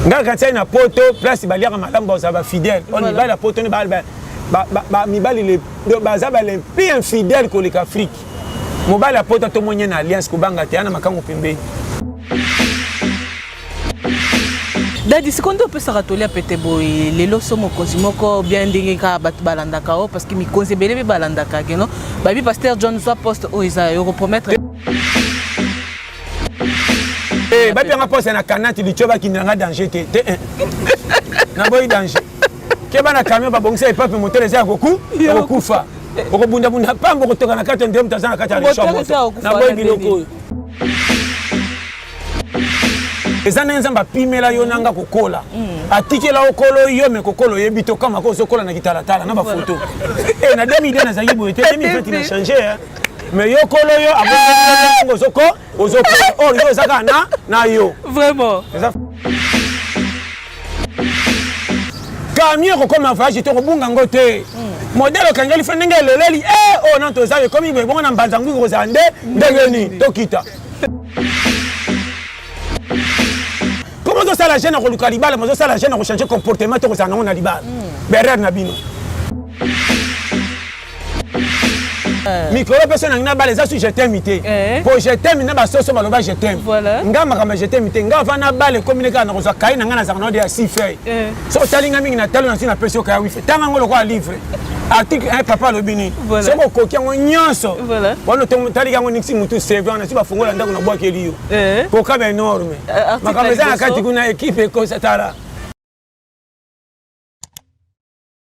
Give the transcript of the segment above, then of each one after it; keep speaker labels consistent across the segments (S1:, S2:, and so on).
S1: ngai kantiai na poto place baliaka malamu bazala bafidèle o mibali ya poto ni mibali baza balempi infidèle koleka afrike mobali ya poto tomonye na alliance kobanga te ana makango pembeni
S2: dadi sikoyo nde opesaka toli ya pete boye lelo so mokonzi moko bien ndenge kaka bato balandaka o oh, parce que mikonzi ebele mpe balandaka keno babi paster john zwa poste oyo oh, eza yo kopromettre
S1: Eh, bapi yanga posa na kanati licho bakindela nga danger te te eh. naboyi danger keba na camion babongisa epape motele eza ya koku okokufa okobundabunda pamba okotoka na kati ya ndire moto aza na kati ya licho moto naboyi biloko oyo eza ndenge nzambe apimela yo nanga kokola mm. atikela yo kolo yo me kokola oyebi te okamaka ozokola na kitalatala na bafoto eh, na 2002 nazalaki boye te 2020 na change mais yo kolo yo abongo ozoko ozoko or yo eza kaka na na yo vraiment eza camion ekokoma voyage te okobunga yango te modele okangeli fe ndenge eleleli e oyo nano toza ekomi boye bongo na mbanza nguki kozala nde ndenge nini tokita komi ozosala jeune akoluka libala mozosala jeune akochange comportement te kozala nango na libala berere na bino Eh. mikolo mpeso nangi nabala eza su jetemi te eh. po jetemi na basoso baloba jetemi nga makambo ya jetemi te nga va nabala ekomi ne kaka nakozwa kai na ngai nazaka na ode ya sifei eh. so otali ngai mingi na talo nasi napesi okaya wifi tanga yango lokola livre article 1 papa alobi nini soki okoki yango nyonso wana taliki yango niksi motu sevant nasi bafongola ndako na bwakeli yo kokaba enorme makambo eza na kati kuna ekipe ekosatala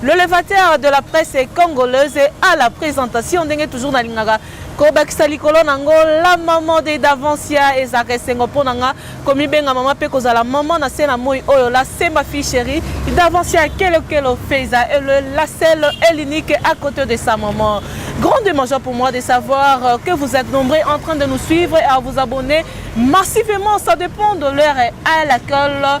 S2: Le levateur de la presse congolaise à la présentation ndenge toujours na lingaka kobakisa likolo na yango la maman de davancia ezalaka esengo mpo na nga komibenga mama mpe kozala mama na se na moi oyo la semba fille chérie davancia kelokelo feza ele la selle et l'unique à côté de sa maman grandement joie pour moi de savoir euh, que vous êtes nombreux en train de nous suivre et à vous abonner massivement ça dépend de l'heure à laquelle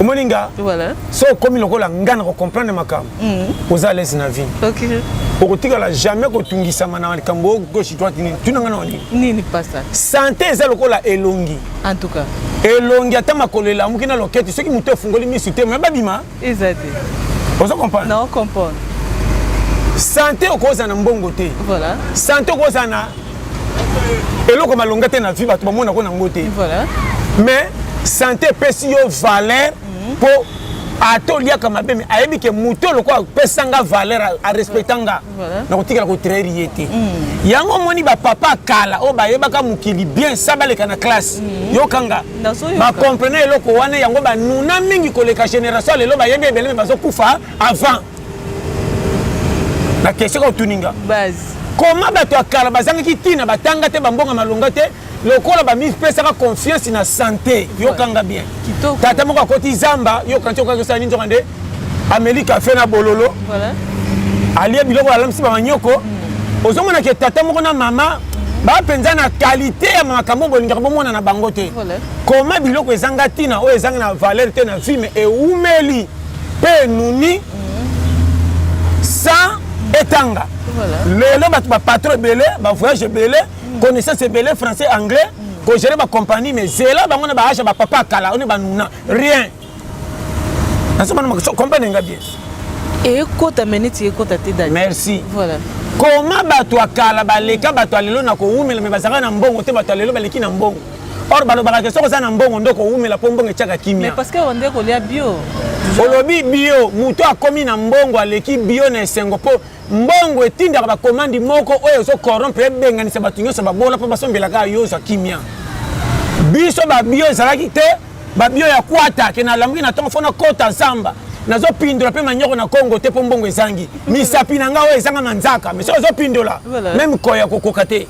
S1: omoni nga voilà. so
S2: okomi lokola
S1: nga na kocomprendre makambo mm. oza alaise na vie okay.
S2: okotikala
S1: jamais kotungisama na likambo oyo gauche droite nini tuna nga na nini nini pasta
S2: sante eza lokola
S1: elongi en tout cas
S2: elongi ata
S1: makolo elamuki na loketi soki moto efungoli misu te me babima eza te
S2: ozo
S1: comprendre na ocomprendre sante okozala na mbongo
S2: te
S1: voilà. sante okozala na eloko malonga te na vie bato bamona ko nango te mais sante epesi yo valeur mpo mhm. ata oliaka mabe me ayebi ke moto lokola apesa nga valeur arespecta nga nakotikala kotraire ye te mhm. yango omoni bapapa kala oyo bayebaka mokili bien sa baleka na classe mhm. yokanga bacomprene eloko wana yango banuna mingi koleka génération lelo bayebi ebele me bazokufa avant na question kaka otuni nga koma
S2: bato ya
S1: kala bazangaki ntina batanga te bambonga malonga te lokola bamipesaka confiance na sante yokanga bien tata moko akoti zamba yoka nti okaki osala nini nzoka nde ameli kafe na bololo alie biloko alamisi bamanyoko hmm. ozomona ke tata moko na mama baa mpenza na kalite ya makambo bolingaka bomona na bango te koma biloko ezanga ntina oyo ezanga na valeur te na vie me ewumeli pe enuni sans etanga lelo bato bapatro ebele bavoyage ebele connaissance ebele français anglais kogere bacompagnie mais zela bango na baage ya bapapa kala one banuna rien nasobanacomprendre nga bien ekota
S2: me neti ekota te dadi merci voilà
S1: koma
S2: bato
S1: ya kala baleka bato ya lelo na kowumela me bazalaka na mbongo te bato ya lelo baleki na mbongo or balobaka ke soki oza na mbongo nde okowumela mpo mbongo etyaka kimia parce que onde kolia
S2: bio olobi
S1: bio moto akomi na mbongo aleki bio na esengo mpo mbongo etindaka bakomandi moko oyo ezokorompe ebenganisa bato nyonso babola mpo basombelaka yo ozwa kimia biso babio ezalaki te babio ya kwata ke nalamuki na ntongo fo nakota zamba nazopindola mpe manyoko na kongo te mpo mbongo ezangi misapi na ngai oyo ezanga manzaka mesi ozopindola meme koya kokoka te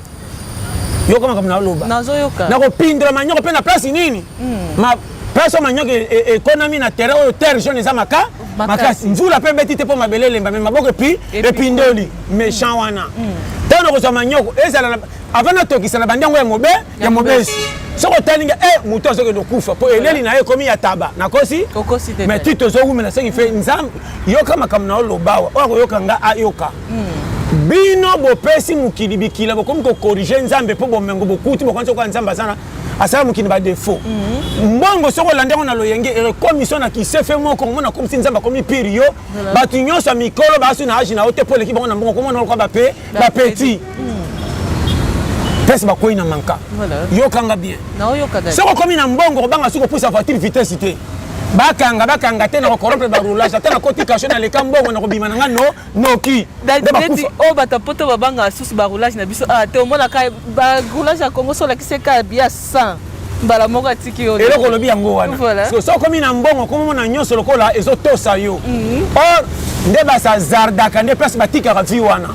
S1: yoka makambo naloba nakopindola manyoko mpe na place nini hmm. place oyo manyoko e, e, ekonami na terrain oyo terre jaune eza maka makasi mvula mpe ebeti te mpo mabele elemba me maboko epi epindoli méchant wana ntango hmm. nakozwa manyoko ezala avant natokisa na bandi yango ya mobe ya mobesi soki otali nga eh, moto azokende okufa mpo eleli na ye ekomi ya taba nakosi mai ti tozowumela soki fe nzambe yoka makambo na yo lobawa oyo akoyoka nga ayoka hmm. bino bopesi mokili bikila bokomi kokorige nzambe mpo bomengo bokuti bokanisi okola nzambe azana asala mokili badefo hmm. mbongo soki olanda yango na loyenge ekomi so na kisefe moko omona akomisi nzambe akomi pire yo bato nyonso ya mikolo baasi na age na yo te mpo oleki bango na mbongo komona lokola bape bapeti pesi bakwei na manka yokanga bien soki okomi na mbongo okobanga soki opusa voiture vitesse te bakanga bakanga te na kokorope barulage ata nakoti kasho naleka mbongo nakobima na nga no noki neti oyo
S2: bato ya poto babangaka susu baroulage na biso ah, te omonaka baroulage ya congo solakisi eka bia 100 mbala moko atiki yo eloko olobi yango wana
S1: soki okomi na mbongo okomomona nyonso lokola ezotosa yo mhm. or nde basazardaka nde place batikaka vie wana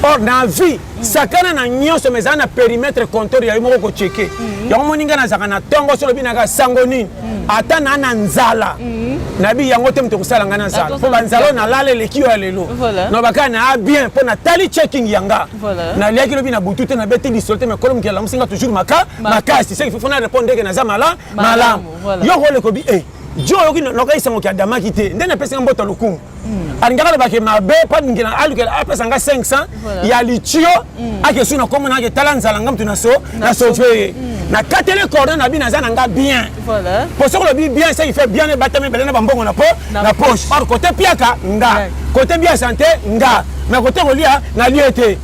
S1: or na vie sakana na nyonso mais ezala na perimetre compteur ya yo moko kocheke mm. yango moni ngai nazalaka na ntongo so olobi naka sango nini mm. ata naa na nzala mm. nayebi yango te moto ekosala ngai na nzala mpo banzala oyo nalala eleki yo ya lelo nobaka naa bien mpo natali checking ya nga naliaki lobi na butu te nabeti lisolo te mekolo mokili alamusi nga toujours maka makasi seki fo na répondre ndeke naza mala malamu yo kolekobi e eh, jo oyoki nokayisango ki adamaki te nde napesi nga mboto lokumu Mm. alingaka aloba ke mabe mpo alingela alukela apesa nga 500 ya litio mm. ake su na komona ake tala nzala nga mutu na so na sauve ye mm. na katele cordon na bino aza na nga bien mpo soki olobi bien seki fait bien ebatami ebele na bambongo na po na poche or kote piaka nga kote bia sante nga mais kote kolia nalie te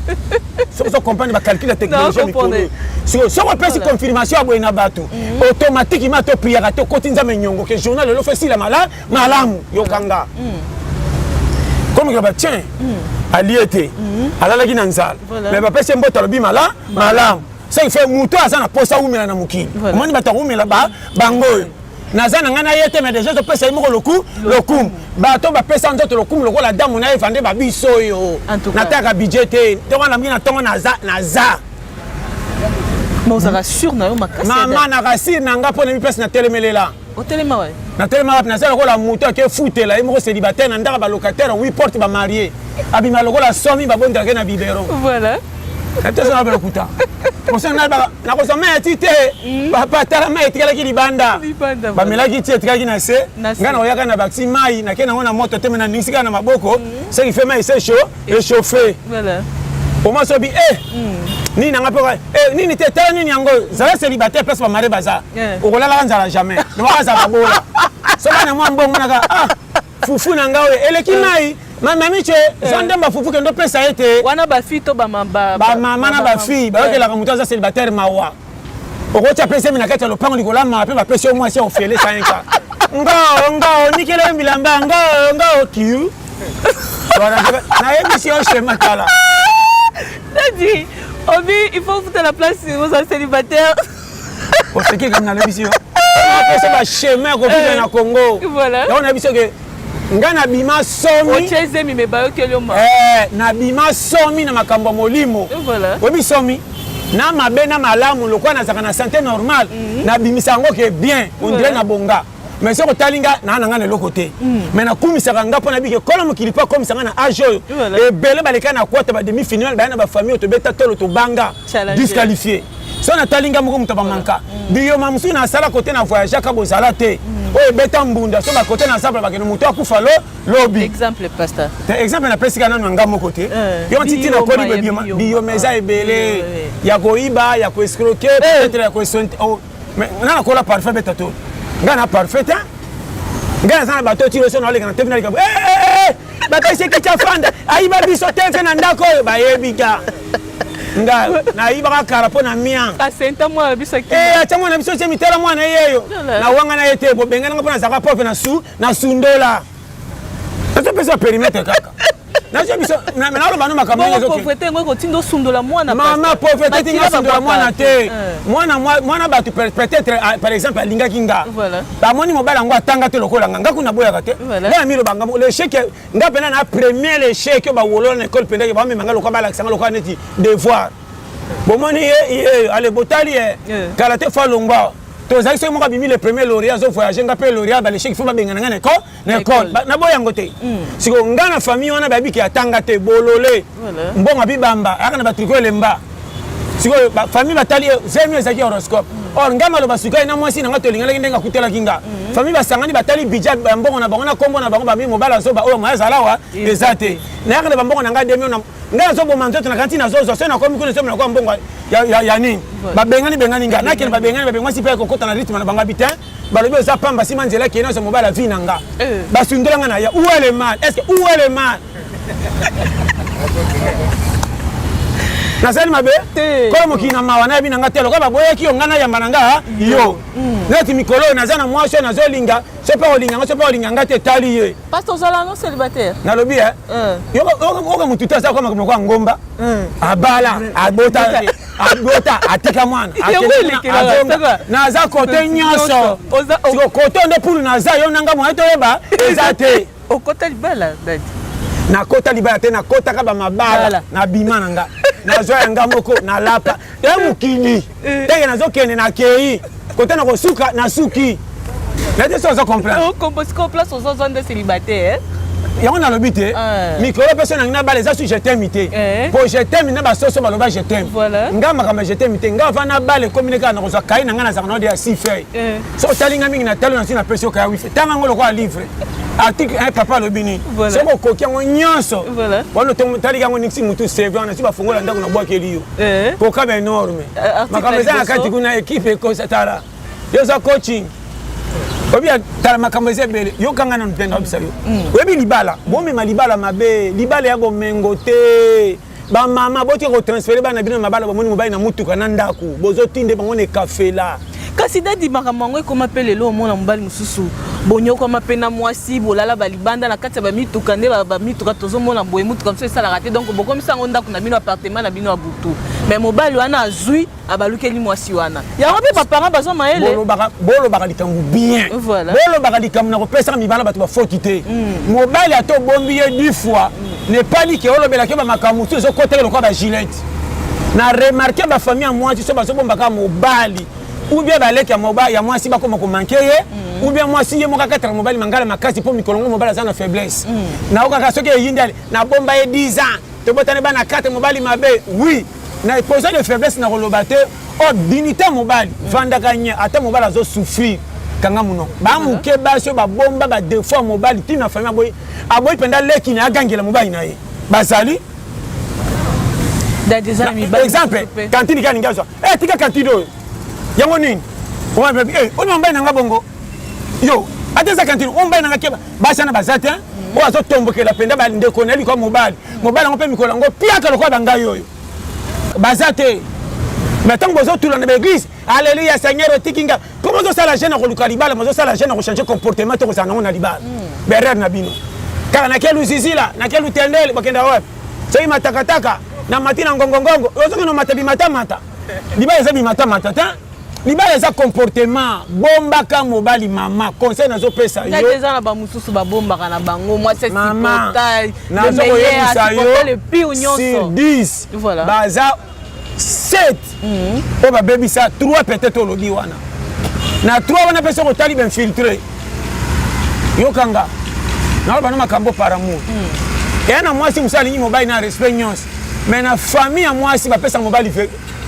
S1: soki ozo comprendre bacalcul ya technologie mikolo sikoyo soki opesi confirmation ya boye na bato automatikement to priaka te okoti nzambe nyongo ke journal elo fo esilama la malamu yoka nga comme que batien alie te alalaki na nzala mais bapesi mbote alobi mala malamu ce qui fait moto aza na posa awumela na mokili omoni bato akowumela bango oyo naza na ngai na ye te mais deja topesa ye moko loku lokumu bato bapesa nzoto lokumu lokola adamu na eva nde babiso oyo nataka bidje te ntongo na mingi na ntongo naza naza mama na rasure na ngai mpo na mipesi na telemelela otelema wapi natelema wapi naza lokola moto ake futela ye moko célibataire na ndaka balocataire wi porte bamarie abima lokola somi babondake na bibero voilà atosana balokuta nakozwa mai ya ti te hmm. papa tala mai etikalaki libanda bamelaki ti etikalaki na se ngai nakoyaka na bakisi mai nake nango na moto te me na ndingisi kaka na maboko hmm. seki fe mai se chaud echauffe voilà oma sobi e eh, hmm. nini nanga mpe eh, nini te tala nini yango zala célibataire place bamare baza eh. okolalaka nzala jamais lobaka azala bola soki na mwa mbongo naka ah fufu na nga oyo eleki mai mamamice zwa ndembo afufu kende opesa ye te wana bafi to
S2: bamama na
S1: bafille bayokelaka moto aza célibataire mawa okotya mpe zemi na kati ya lopango likolo ya mama mpe bapesi yo mwasi ya ofele sainka ngoo ngoo nikela yo bilamba ngoo ngoo kiu nayebisi yo shema tala
S2: nadi obi il faut futa la place ozali célibataire
S1: oseki kami nalobisi yo apesa bashema ya kobika na congo yango nayebisi yo ke nga nabima somiozemi me bayokeli
S2: yo ma eh, nabima
S1: somi na makambo ya molimo oyebi somi na mabe na malamu lokola nazalaka na sante normale mhm. nabimisa yango ke bien ondire na bonga mais soki otali nga naa na ngai na eloko te mm. mais nakumisaka nga mpo nabiki ekolo mokili mpo akomisa ngai na age oyo ebele baleka na kwata bademi final baya na bafamille oyo tobeta tolo tobanga disqualifie so natali nga moko moto bamanka biyoma mosusu nasala kote na voyageaka bozala te mm. oyo ebeta mbunda so bakote na sabla bakende moto akufa lo lobi
S2: exemple napesika nano
S1: ya nga moko te eh, yo ntiti nakoli biyoma eza ebele ya koyiba ya koescroke eh. peut-être ya koesonte oh, nga nakola parfait beta to nga na parfait te nga naza na bato tiro so naoleka na tevi naleka bapesi kiti afanda ayiba biso te mpe na ndako oyo bayebi ga nga nayibaka kara mpo na mia asenta mwana na biso
S2: eh, atya mwana na biso tie mitala
S1: mwana yeyo na wanga na ye te bobenge nanga mpo nazalaka profe na su na sundola nazopesa perimetre kaka nazwa biso naloba no makambo
S2: mama pauvreté tinga
S1: sundola mwana te mwana bato peut-être par exemple alingaki nga bamoni mobali yango atanga te lokola nga nga kuna boyaka te naya miloba nga lechec nga mpena na premier lechec oyo bawolola na ekole mpendaki bamema nga lokola balakisa nga lokola neti devoir bomoni ye ye ale botali ye kala te fa longwa tozalaki soki moko abimi le premier lauréat azo voyage nga mpe lauréat balechec fo babengana nga na ekole na ekole naboya yango te hmm. sikoyo ngai na famille wana bayebiki atanga te bolole mbongo abibamba ayaka na batriko elemba sikoyo famille batali zemi ezalaki horoscope hmm. or ngai maloba sukai na mwasi na ngai tolinganaki ndenge akutelaki nga hmm. famille basangani batali bidja ya mbongo na bango na nkombo na bango bamii mobali azoba oyo moya azalawa eza te nayaka na bambongo na ngai demio ngai nazoboma nzoto na kanti nazozwa soki nakomi kuna esomi nakoya mbongo ya nini babengani bengani ngai nakende babengani babengani mwasi mpe ekokota na rythme na bango bitin balobi oza pamba sima nzela kee nazwa mobala vie na nga eh. basundola nga na ya où est le mal est ce que où est le mal nasali mabe kola mokili na mawa nayebi na nga te lokola baboyaki yo ngai nayamba na nga yo mm. neti mikolo oyo naza na mwasi oyo nazolinga soki mpe olinga nga soki mpe olinga nga te etali ye paste ozala no
S2: célibataire nalobi e
S1: eh? eh. yoka motu te aza koma moko ya ngomba eh. abala abota abota atika mwana naza kote nyonso siko kote nde pulu naza yo nanga moye toyeba eza te okota libala
S2: dadi nakota
S1: libala te nakotaka bamabala na bima na nga nazwa ya nga moko nalapa te mokili ndenge eh. nazokende nakei Kota na kosuka na suki. Na te so ozo comprendre. Oh, combo siko place ozo
S2: zo nde célibataire. Eh? yango nalobi
S1: te eh. mikolo mpe so nangi na bala eza su jetemi te eh. po jetemi na basoso baloba jetemi ngai makambo ya jetemi te ngai vana bala ekomi ne kaka na kozwa kai na ngai nazaka nao de ya si feuille so otali ngai mingi na talo na nsi napesi yo kaya wifi tanga yango lokola livre article un papa alobi nini soki okoki yango nyonso wana otaliki yango niksi motu seve wana si bafongola ndako na bwakeli yo eh. kokaba enorme eh, makambo eza na kati kuna ekipe ekosa tala yo oza coaching oyebi tala makambo eza ebele yokanga nanu mpe nayebisa yo mm. oyebi libala bomema libala mabe libala ya bomengo te bamama botika kotransfere bana bino na mabala bomoni mobali na motuka na ndako bozotinde bango na ekafela kasi dadi makambo
S2: yango ekoma mpe lelo omona mobali mosusu bonyokwama mpe na mwasi bolala balibanda na kati ya bamituka nde bamituka tozomona boye motuka mosusu esalaka te donc bokomisa yango ndako na bino apartema na bino ya butu me mobali wana azwi abalukeli mwasi wana yango mpe baparent bazwa mayele bolobaka likambo
S1: bien bolobaka likambo na kopesaka mibala bato bafoti te mm. mobali ata obombi ye du fois mm. nepali ke olobelaki bamakambo mosusu ezokotela lokola bagilete na remarke ba famille ya mwasi so bazobomba kaka mobali ou bien baleki ya mobali ya mwasi bakoma komanke ye mm. ou bien mwasi ye moko akataka mobali mangala makasi mpo mikolo ngo mobali aza na faiblesse mm. naokaka soki eyindi ali nabomba ye 10 ans tobotani bana 4 mobali mabe oui na posa de faiblesse nakoloba te o oh, dignité mobali mm. vandaka nye ata mobali azosouffrir kanga monoko bamoke basi oyo babomba badefaut ya mobali ntina famille aboyi aboyi mpenza leki na ye agangela mobali na ye bazali exemple kantini kani ngai zwa e tika kantini oyo yango nini eh, oyo mobali na ngai bongo yo ata eza kantini oyo mobali na ngai keba basi wana baza te mm. oyo azotombokela mpenza bandeko na ye likwa mobali mobali yango mpe mikolo yango piaka lokola bangai oyo baza te me ntango bozotula na baeglise Alléluia Seigneur otiki nga. Comment ça la jeune akoluka libala, mais ça la jeune ko changer comportement to kozanga na libala. Hmm. Berrer na bino. Kala na kelu zizila, na kelu tendele bakenda wapi? Soki matakataka na mati na ngongongongo, ozoki no matabi matamata. Libala eza bi matamata ta. libala eza comportement bombaka mobali mama conseil nazopesa yo eza na bamosusu
S2: babombaka na bango mwasi asipotai
S1: nazokoyebisa yo sur 10 baza 7 oyo mm. babebisa 3 peut-être olobi wana na 3 wana mpe soki otali bainfiltre yokanga naoloba na makambo par amour mm. eya na mwasi mosu alingi mobali na respect nyonso mais na famille ya mwasi bapesa mobali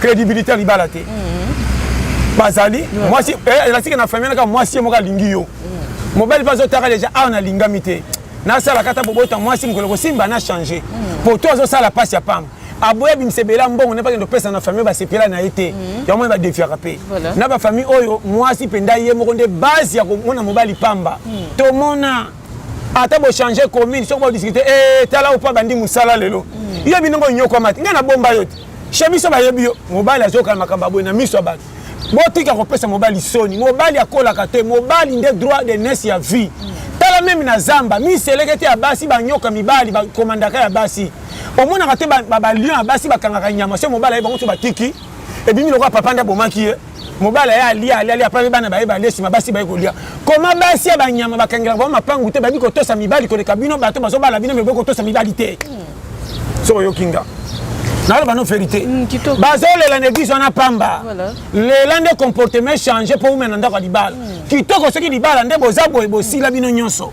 S1: crédibilité ya libala te mm. bazali mwasi eh, elasike na famille naka mwasi ye moko alingi yo mobali mpe azotaka deja awa nalingami te nasalaka ata bobota mwasi mokolo kosimba na change po to azosala mpasi ya pamba aboya abimisa ebele ya mbongo nde bakende kopesa na famille basepela na ye te mhm. yango moni badefiaka mpe na bafamille oyo mwasi mpenza ye moko nde base ya komona mobali pamba mhm. tomona ata bochange commune soki bodiskute eh, tala opo abandi mosala lelo mhm. yo binongo onyokwama te ngai nabomba yo te chez biso bayebi yo mobali azokana makambo ya boye na miso ya bato botika kopesa mobali soni mobali akolaka te mobali nde droit de nes ya vie tala meme na zamba miselekete ya basi banyoka mibali bakomandaka ya basi omonaka te balion ya basi bakangaka nyama se mobali aye bango so batiki ebimi lokola papa nde abomaki ye mobali aye alia alia alia apabe bana baye balia nsima basi baye kolia koma basi ya banyama bakangelaka bango mapangu te bayebi kotosa mibali koleka bino bato bazobala bino meboyi kotosa mibali te hmm. soki oyoki nga naloba no verité hmm, bazolela na eglise wana pamba lela nde comportement change mpo umena ndako ya libala hmm. kitoko soki libala nde boza boye bosila bino nyonso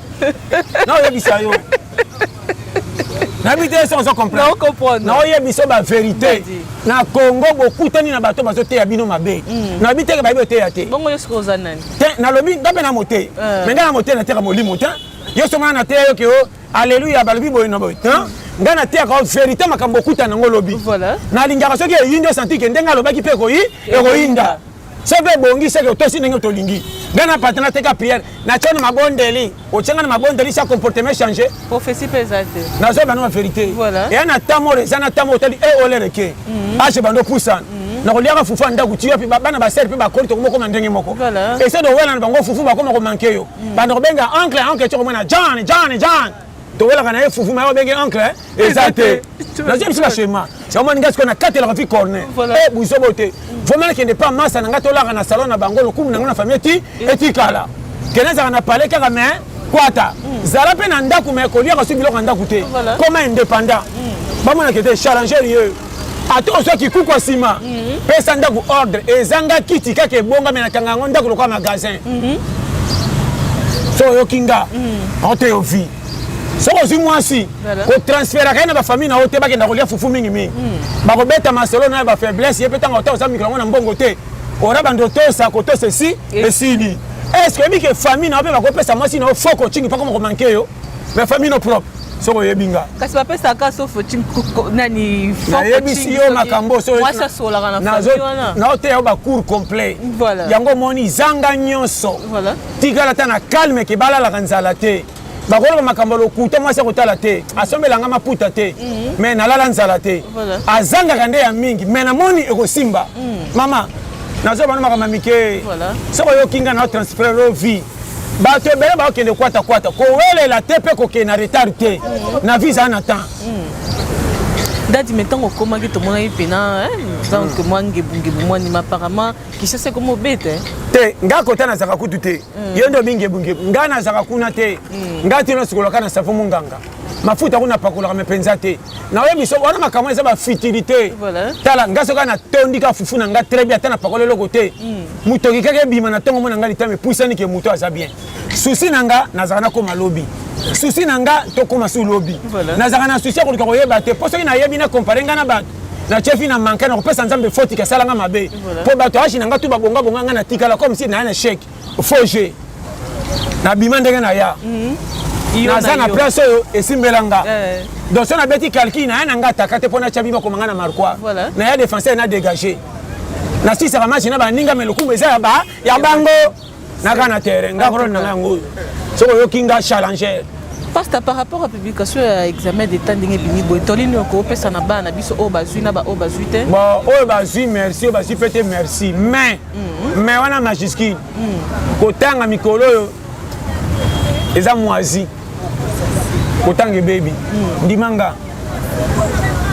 S1: naoyebisa yo nayebi te esi ozo comprendre naoyebisa yo baverité na congo bokutani na bato bazoteya bino mabe hmm. nayebi teke bayebi oteya te
S2: te nalobi nga mpe na
S1: moteyi eh. me nga na moteyi nateka molimo te yo somana nateya yo ke o alleluya balobi boye na boye ngai nateyaka o verité makambo okutana yango lobi nalingaka soki eyindi osantike ndenge alobaki mpe ekoyi ekoyinda soki ebongi seke otosi ndenge tolingi ngai na patana teka priere natya na mabondeli otya ngai na mabondeli sa comportement change profesi mpe eza te
S2: nazoya bana baverité
S1: eya na ntango oyo eza na ntango oyo otali e olereke age bando opusana nakoliaka fufu ya ndako tiyo mpe bana basere mpe bakoli tokomi okoma ndenge moko esede owela na bango fufu bakoma komanke yo banda kobenga oncle oncle ti okomona john john john towelaka na ye fufu mayo benge oncle eh? eza te nazwi biso bashema omoni ngai sikoyo nakatelaka fi corne e buzobo te vomela kende pa masa na ngai tolaka na salon na bango lokumu na ngai na famille eti etikala kende ezalaka na pale kaka me kwata mm. zala mpe na ndako me koliaka soki biloko ya ndako te koma indépendant mm. bamonaka ete challenger ye ata ozwa kikuku nsima mhm. pesa ndako ordre ezanga kiti kaka ebongami na kanga yango ndako lokola magasin mhm. so oyoki nga mhm. oteyo vie soki ozwi mwasi kotransferaka ye na bafamille na yo te bakenda kolia fufu mingimingi bakobeta masolo na ya bafaiblesse ye mpe ntango ota oza mikolo yango na mbongo te ora bando tosa kotosa esi esili estce oyebi ke famille na yo mpe bakopesa mwasi na yo fo kocingi mpakoma komanke yo mais famille no propre soki oyebi nga kasi bapesaka sof
S2: nani nayebisi yo
S1: makambo
S2: naoteya yo bacour
S1: complet yango omoni zanga nyonso tikala ata na calme ke balalaka nzala te bakolaka makambo lokuta mwasi akotala te asombelanga maputa te mhm. me nalala nzala te azangaka nde ya mingi me namoni ekosimba mhm. mama nazoba na makambo ya mike soki oyoki nga na transfere yo vie bato ebele bakokende kwata kwata kowelela te mpe kokende na retard te mm. na visa na temps mm.
S2: dadi me ntango okomaki tomonaki mpena donc mm. mwa ngebungebu mwanima apparemment kishasa ekomi obeta eh? te nga kota
S1: nazaka kutu te yo nde omingebungebu nga nazaka kuna te nga tino sikolaka na savo monganga mafuta kuna apakolaka me mpenza te naoye biso wana makambo eza bafutilité tala nga soki natondi ka fufu na nga très bien ata na pakolo eloko te motoki hmm. kaka ebima na ntongo mona nga litama epusani ke moto aza bien susi na nga nazala nakoma lobi susi na nga tokoma su lobi nazalaka na susi ya koluka koyeba te mpo soki nayebi na kompare nga na bato na chefi na manke na kopesa nzambe foti kasala nga mabe mpo bato ashi na nga tu babongabonga nga natikala comme si naya na cheke faux jeu nabima ndenge na ya mm -hmm. naza na place oyo esimbela nga eh. donc so nabeti calcul naya na nga ataka te mpo natya bima koma nga na marquoi voilà. naya défenseur na dégage nasisaka match na baninga me lokumu eza ya bango naka na terrain nga kolona nanga yango oyo soki oyoki nga challenger pasta par rapport
S2: à publication ya examen d'état ndenge ebimi boye toli nini okopesa na bana na biso oyo bazwi na baoyo bazwi te oyo bazwi
S1: merci oyo bazwi mpe te merci mais mm-hmm. mais wana majuscule mm. kotanga mikolo oyo eza mwazi kotanga ebebi mm. ndima nga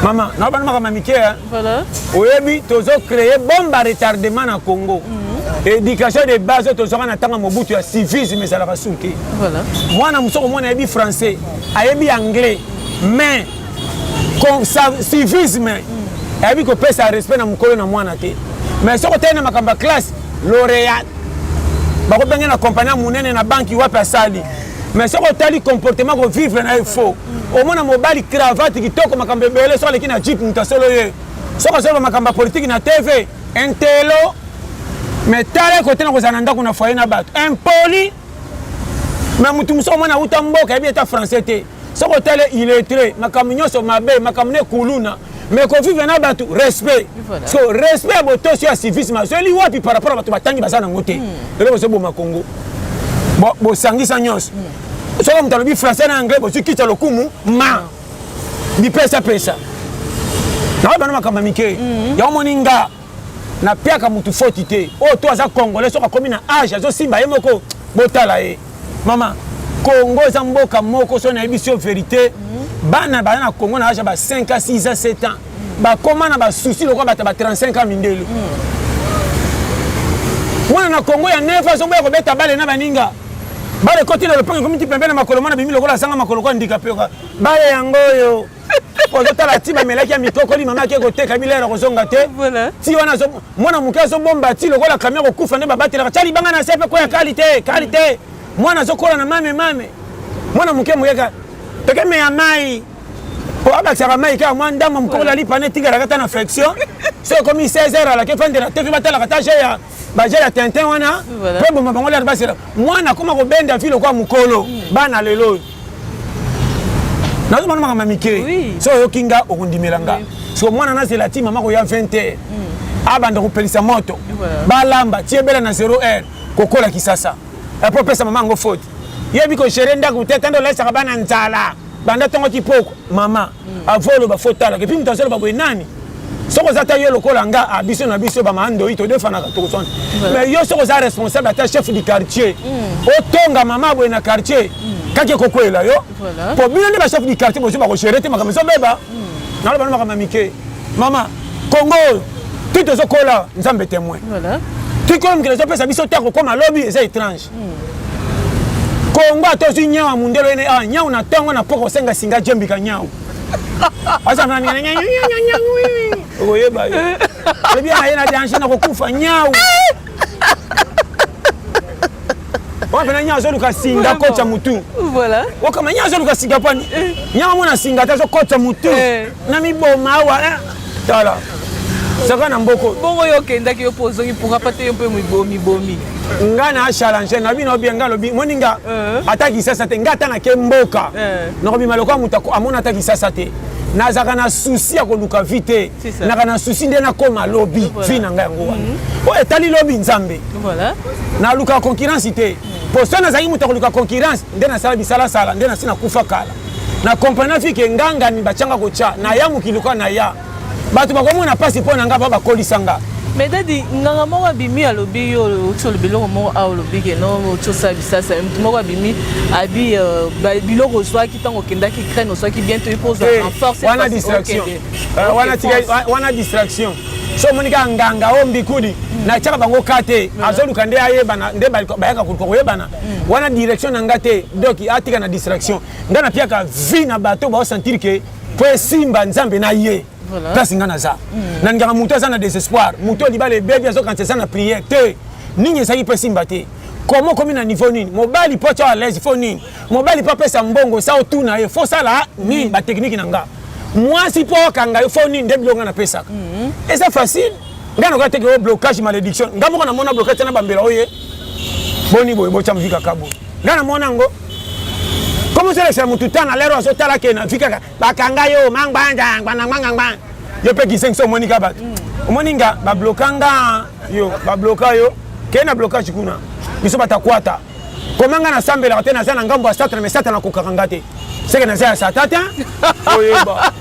S1: mama na bana makambo ya mike eh?
S2: oyebi tozo
S1: créer bombe a retardement na congo mm. éducation de base oyo tozwaka na ntango ya mobutu ya civisme ezalaka suki mwana
S2: mosusu okomona
S1: ayebi français ayebi anglais mais civisme eyebi kopesa respect na mokolo na mwana te mais soki otali na makambo ya classe laureat bakobenge na kompani ya monene na banki wapi asali mais soki otali comportement kovivre na ye faux omona mobali cravate kitoko makambo ebele soki aleki na jip moto asolo ye soki azoloba makambo ya politiki na tv intelo mais tala ye kote na kozala na ndako na foye na bato impoli mais motu mosusu omona auta mboka yebi ata français te soki otali illettré makambo nyonso mabe makambo ne kuluna mais kovivre na bato respect so respect ya botosi ya civisme azweli wapi par rapport ya bato batangi baza nango te hmm. eloko ezoboma kongo bosangisa nyonso hmm. soki moto alobi français na anglais bozwi kitya lokumu ma hmm. bipesapesa na oyo bana makambo ya mike yango moni nga na piaka mutu foti te oyo oh, to aza congolais soki akomi na age azosimba ye moko botala ye mama congo eza mboka moko soki nayebisi yo verité mhm. bana baza na congo na age ya ba 5 a 6 a 7 ans bakoma na basusi lokola bato ya ba 35 ans mindele mhm. mwana na congo ya 9 azoboya kobeta bale na baninga bale ekoti na lopango ekomi ti pembe na makolo mwana bimi lokola asanga makolo kwa ndika mpe bale yango oyo ozotala ti bamelaki ya mikokoli mama ake koteka bilere kozonga te ti wana mwana moke azobomba ti lokola kamio kokufa nde babatelaka tya libanga na se mpe koya kali te kali te mwana azokola na mame mame mwana moke moyeka toke meya mai po abakisaka mai kaka mwa ndambo mokolo alipana etingalaka ata na flexion so ekomi 16 heure alaki efandela te mpe batalaka ta je ya baja ya tintin wana mpo eboma bango lata basela mwana akoma kobenda vi lokola mokolo hmm. bana lelo oyo nazomona makambo ya mike so oyoki nga okondimela nga siko mwana nazela ti mama koya 20 heure hmm. abanda kopelisa moto balamba ti ebela na 0 heure kokola kisasa epo eh, opesa mama yango foti yebi kogere ndako te tanda olaisaka bana nzala banda ntongo kipoko mama avant oloba fo talaka epuis moto azoloba boye nani soki oza ata yo lokola nga a ah, biso na biso bamandoi todefanaka tokozwana mais yo soki oza responsable ata chef du quartier hmm. otonga mama boye na quartier hmm. kaki ekokwela yo po bino nde bachef du quartier bozo bakogere te makambo ezobeba hmm. naloba no makambo ya mike mama kongo oyo ti tozokola nzambe temoin tikolo mokili ezopesa biso te akokoma lobi eza étrange kongo ata ozwi nyau ya mundele oyene awa ah, nyau na ntongo na poko osenga singa jembika nyau okoyeba ye alobi yana ye na danger na kokufa nyau wapena nyau azoluka singa kotya motu okama
S2: nyau azoluka
S1: singa pani eh. nyau amona singa te azokotya motu eh. na miboma awa eh. tala zaka na mboko bongo yo okendaki yo mpo
S2: ozongi pourka pa te yo mpe omibomi nga na
S1: challenge na bino bien nga alobi moni nga eh. ata kisasa te nga ata nake mboka eh. nakobima lokola moto amona ata kisasa te nazalaka na susi ya koluka vi te naka na susi nde nakoma lobi vi na ngai yango wana mhm. oyo etali lobi nzambe
S2: naluka
S1: concurrence te mpo soki nazalaki moto ya koluka concurrence nde nasala bisalasala nde nasi nakufa kala na comprenaki ke ngangani batianga kotya na ya mokili kwa na ya bato bakomona mpasi mpo na ngai bao bakolisa nga mais dadi
S2: nganga moko abimi alobi yo oti olobi eloko moko awa olobi ke no oti osala bisasa motu moko abimi abi euh, biloko ozwaki ntango okendaki ukraine ozwaki bien toyi mpo ozwa renforce eh, wana distraction
S1: euh, wana distraction so omoni kaka nganga o mbikudi natyaka bango ka te azoluka nde ayebana nde bayaka koluka koyebana mm. wana direction na nga te donc atika na distraction nga napiaka vie na bato baosentir ke po esimba nzambe na ye place nga naza mm. nalingaka moto aza na désespoir moto libala ebebi azokanisa eza na prière te nini ezalaki po esimba te koma okomi na niveau nini mobali po atya alaise fo nini mobali po apesa mbongo sa otuna ye fo sala nini bateknike na nga mwasi po okanga yo fo nini nde biloko nga napesaka mm-hmm. eza facile nga noka teke oyo blocage malédiction nga moko namona blocage tena bambela oye boni boye botya mvi kaka boye nga namona yango komi osolekisa motu ntan na lere oyo azotala ke na vi kaka bakanga yo mangbangbangbangbangbangba yo mpe kisengisa omoni ka bato mm. omoni nga babloka nga yo babloka yo kei na blocage kuna biso batakwata koma nga nasambelaka te naza na ngambo ya satana me satana akokaka nga te seke naza ya sata te oyeba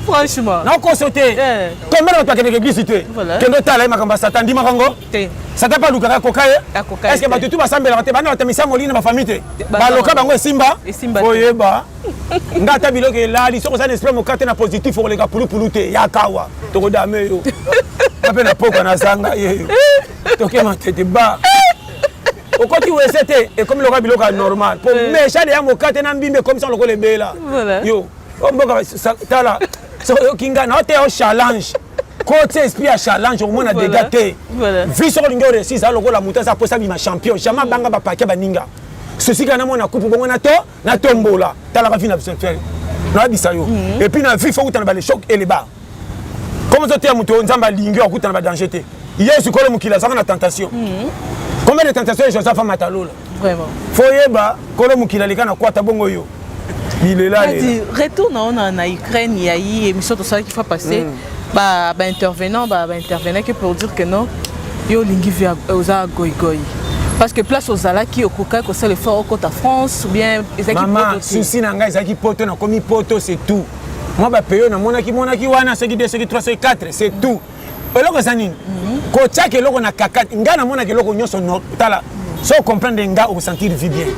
S2: franchement nakoso te eh.
S1: combien bato bakendeke eglise te kende otala ye makambo ya satan ndimaka ngo satan mpe alukaka akoka ye estce bato tu basambelaka te banda batamisa molili na bafamille te baloka bango esimba oyeba nga ata biloko elali soki oza na esprit moka te na positif okoleka pulupulu te yakawa tokodame yo ape na pokwa nazanga yeyo tokema tete ba okoti wese te ekomi lokola biloko ya normal po eh. mesha deya mokate na mbimbi ekomisa lokola ebela yo oh, mboka tala soki oyoki ngai na oteya o challenge kotia esprit ya challenge okomona dega te vi soki olingi oresisa lokola moto aza aposa bima champion jamai abanga bapake baninga sosi kaka namona kupu bongo na to na tombola talaka vie na biso te nayebisa yo mhm. epuis na vie fo kutana ba le choc et le bas comme ozoteya moto oyo nzambe alingi okutana ba danger te yesu kolo mokili azalaka na tentation mhm. combien de tentation joseph amata lola fo
S2: oyeba
S1: kolo mokili aleka na kwata bongo yo bilela retour na ona
S2: na ukraine ya ye émission tosalaki fa passé mm. ba ba intervenant ba ba intervenant que pour dire que non yo olingi vie euh, oza goigoi parce que place ozalaki okokaki kosala effort okota france ou bien ezalaki mama souci na ngai
S1: ezalaki poto nakomi poto c'est tout mwa bapeyo namonaki monaki wana soki 2 soki 3 soki 4 c'est tout eloko eza nini mhm. kotiaka eloko na kakati ngai namonaka eloko nyonso tala so ocomprendre nga okosentir vie bien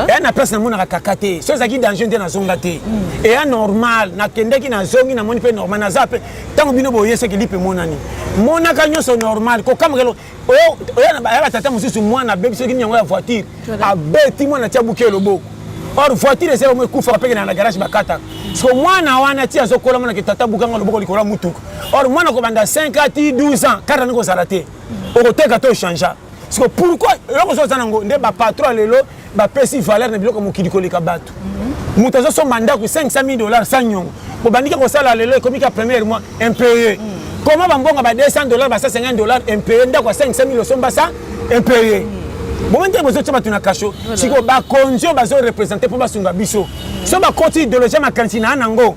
S1: eya na place namonaka kaka te so ezalaki danger nde nazonga te mm. eya normal nakendeki nazongi namoni mpe normal naza mpe ntango bino boye soki lipe emonani monaka nyonso normal kokamokelo oya batata mosusu mwana abebi soki nini yango ya voiture abeti mwana tia buki eloboko or voiture ezali yango ekufaka mpe kenda na garage bakataka so mwana wana ti azokola monake tata bukanga loboko likolo ya motuka or mwana kobanda 5 a ti 12 ans kata nde kozala te okoteka to changea siko pourquoi eloko ozo oza nango nde bapatron lelo bapesi valeur na biloko mokili koleka bato mhm. moto azosomba ndako 500 000 dollars sa nyongo obandiki kosala lelo ekomi ka première mois impayé mhm. comment bambongo ba 200 dollars ba 150 dollars impayé ndako ya 500 000 osomba sa impayé mhm. bongo ndenge bozotya bato na kasho sikoyo bakonzi oyo bazorepresente mpo basunga biso so bakoti ideologie ya makanisi na yango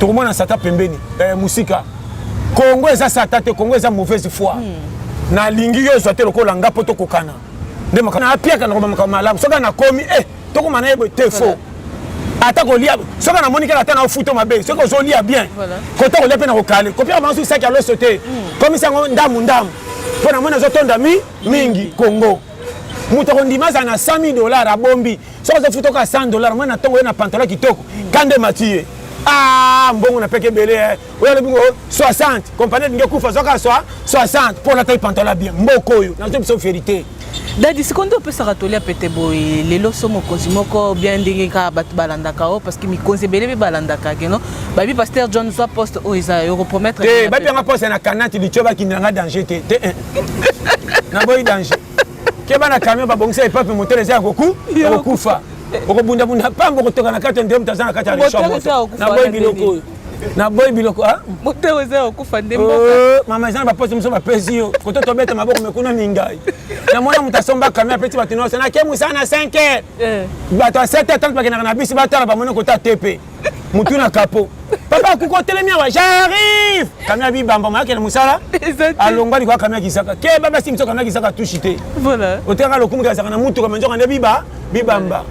S1: tokomona sata pembeni eh, mosika Congo eza sata te, Congo eza mauvaise foi. Hmm. Na lingi yo zwa te lokola nga poto kokana. Nde makana na piaka na koma makama malamu. Soka na komi eh toko mana yebo te faux. Ata ko lia soka na monika ata na ofuto mabe. Soka zo lia bien. Kota ko lia pe na ko kale. Ko pia mansu saki alo sote. Hmm. Komi sango ndamu ndamu. Pona mona zo tonda mi mingi Congo. moto akondima azala na 100 000 dollar abombi soki azofuta oka 100 dollar mwana ntongo ye na pantalon kitoko kande mati ye ah mbongo na peke ebele eh. oyo alobi ngo 60 kompani elingi ekufa zwaka swa 60 mpo olatai pantola bien mboka oyo nazo biso verité dadi sikoyo nde
S2: opesaka toli ya pete boye lelo so mokonzi moko bien ndenge kaka bato balandaka o parce que mikonzi ebele mpe balandaka keno babi pasteur john zwa poste oyo eza yo kopromettre te babi yanga poste na
S1: kanati litio bakindela nga danger te te eh. naboyi danger keba na camion babongisa epape motele eza ya koku ya kokufa okobundabunda pamba okotoka na kati ya ndemta aza na kati ya leshwa moto naboyi biloko oyo naboyi biloko ah? motema eza ya kokufa
S2: nde oh, mama eza na baposi
S1: mosusu bapesi yo koto tobeta maboko mekuna mingai na mwana moto asomba kami apeti bato nyonso nake mosala na 5 heure eh. bato ya 7 heure tanto bakendaka na bisi batala bamoni kota te mpe motu na kapo papa akuki otelemi awa jarrive kami ya bibamba mayake na mosala alongwa likwa kami ya kisaka ke babasi miso kami ya kisaka tushi te oteyaka
S2: lokumu kazaka na
S1: motuka manzoka nde biba bibamba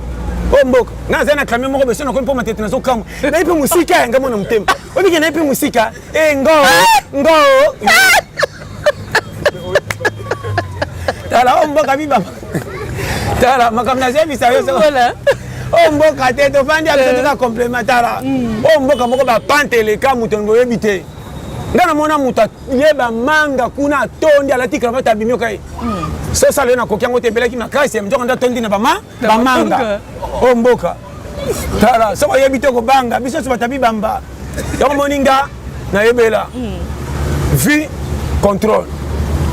S1: o mboka naza na kami moko beso nakomi mpo matete nazokamwa na ye mpe mosika yanga mwana motema obike na ye mpe mosika e eh, ngo ngo tala o mboka mibamba tala makambo nazebisa yo oyo
S2: mboka
S1: te tofandi ya biso toza complementara oyo mboka moko bapante eleka moto boyebi te ngai namona moto ye bamanga kuna atondi alati kravate abimi okai sosala ye nakoki yango te ebelaki makasi ya mjoko nde atondi na bama bamanga oyo mboka tala soko oyebi te kobanga biso nyonso batabi bamba yango omoni nga nayebela hmm. vie contrôle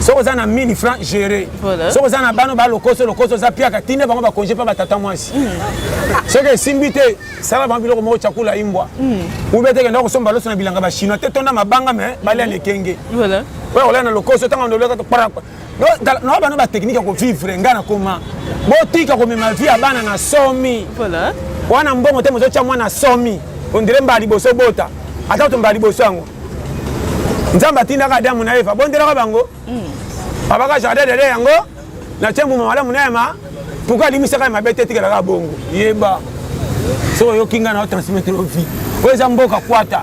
S1: soki oza na 1000 franc géré soki oza na bana balokoso lokoso oza piaka tinde bango bakonge mpe batata mwasi hmm. soki esimbi te sala bango biloko moko cakula imbwa hmm. ube te kenda kosomba loso na bilanga bachinois te tonda mabanga me balia na ekenge oyo kolala na lokoso ntango ndoleka na bana ba technique ya kovivre ngai nakoma botika komema vie ya bana na somi wana
S2: mbongo te
S1: mozotya mwana somi ondire mbala liboso bota ata to mbala liboso yango nzambe atindaka adamu na eva bondelaka bango hmm. babaka jardin dede yango natye mbuma malamu na yema pourkui alimisaka ya mabe te etikelaka bongo yeba soki oyoki ngai na otransmettre ovi oyo eza mboka kwata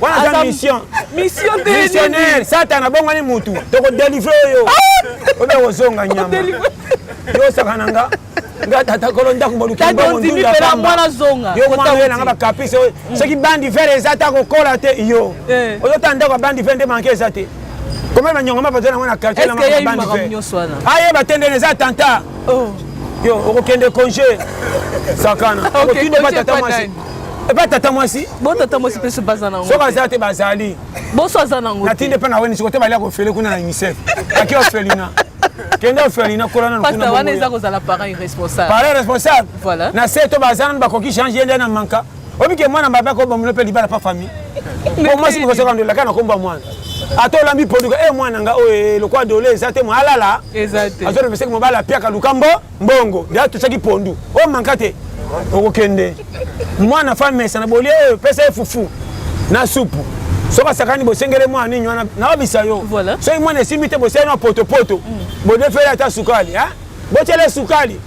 S1: wana aza mission mission te
S2: missionnaire satana
S1: bongani mutu toko délivrer oyo ah! obe kozonga nyama yo saka na nga nga tata kolo ndako molukimwana
S2: zonga yo mwana oyo nanga bakaprice
S1: oyo mm. soki bandi vere eza ata kokola te yo eh. ozotala ndako ya bandi vere nde manke eza te koma banyongo ma baza nango na quartier na bandi vere ayeba te ndene eza attentat oh. yo okokende congé sakana okotindobata ta mwasi epa tata mwasi bo tata mwasi mpe so
S2: baza nango soki aza te bazali
S1: boso aza nango
S2: natindi mpe na weni siko te balia
S1: kofele kuna na unicef aki ofelina kende ofelina kola nanu kuna wana eza kozala
S2: parent irresponsable parent irresponsable
S1: voilà na se to
S2: baza nanu
S1: bakoki change ye nde na manka obike mwana mabe akobomulo mpe libala pa famille po mwasi mokosoka ndola kaka na komba mwana ata olambi produit e eh, mwana nga oyo eh, lokola dole eza te mwa alala azolobeseki
S2: mobali apiaka
S1: lukambo mbongo nde atotiaki pondu oyo manka te okokende mwana fa mesa na bolie oyo pesa ye fufu na supu soki asakani bosengele mwana nini wana naobisa yo soki mwana esimbi
S2: te bosengeli
S1: na potopoto mm. bodefeli ata sukali botyele sukali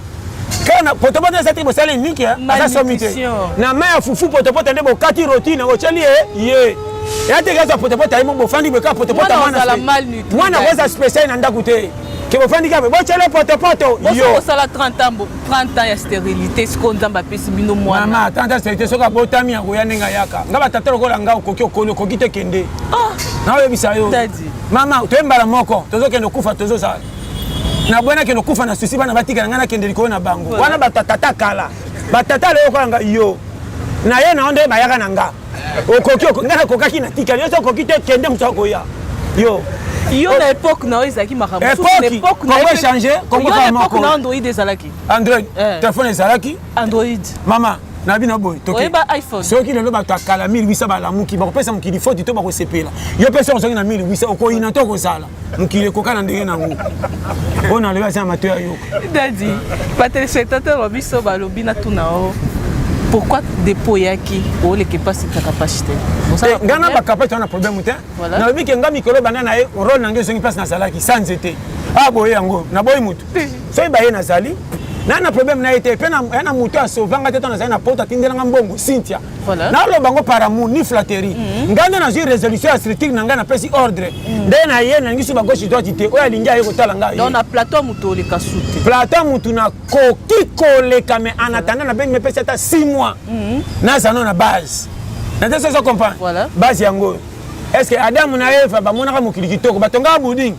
S1: kaka potopoto eza te bosali niki aza somi te na mai ya fufu potopoto nde bokati rotine otyeli ye ye eya te kezwa potopoto ayimo bofandi boyekaka potopoto mwana mwana akoza special na ndako te ke bofandi kaka botyele potopoto yosala 30 ans
S2: 30 ans ya stérilité sikoyo nzambe apesi bino mwana mama 30 ans stérilité soki
S1: abotami akoya ndenge ayaka nga batata lokola nga okoki okoni okoki te kende ah. naoyebisa yo mama toye mbala moko tozokende okufa tozozala na boye nakende okufa na susi bana batikala ngai nakende likolo na bango wana batata kala batata leo okola nga yo naye na yo nde bayaka na nga okoki ngai nakokaki natikali yo okoki te kende moto akoya yo yo na epoque
S2: na yo ezalaki makambo
S1: epoque na android
S2: ezalaki android eh. telefone
S1: ezalaki android mama
S2: na
S1: bino boye soki lelo
S2: bato ya kala
S1: 1800 balamuki bakopesa mokili foti to bakosepela yo mpe soki ozongi na 1800 okoyina to okozala mokili ekoka na ndenge nango oyo nalobi aza na mato ya yoka dadi
S2: batelespectateur ba biso balobi na tuna o pourquoi dépôt eyaki oleke mpasi ta capacité eh, nga na
S1: bacapacité wana problème te nalobi ke nga mikolo banda na ye role na nge ezongi mpasi nazalaki sa nzete a ah, boye yango naboyi motu soki baye nazali na na problème na ye te mpe ya na moto asovanga te to nazali na poto atindelanga mbongo cynthia Voilà. naloba yango par amour ni flatterie mm. ngai nde nazwi résolution ya structure na ngai napesi ordre mm. nde na ye nalingi so bagauche droite te oyo alingi aye kotala ngai donc na plateau ya motu
S2: oleka su te plateau ya motu
S1: nakoki koleka mais en attendant nabengi mepesi ata 6 mois mm. naza no na base nate sozo comprendre base yango oyo est ce que adamu na eva bamonaka mokili kitoko batongaka buding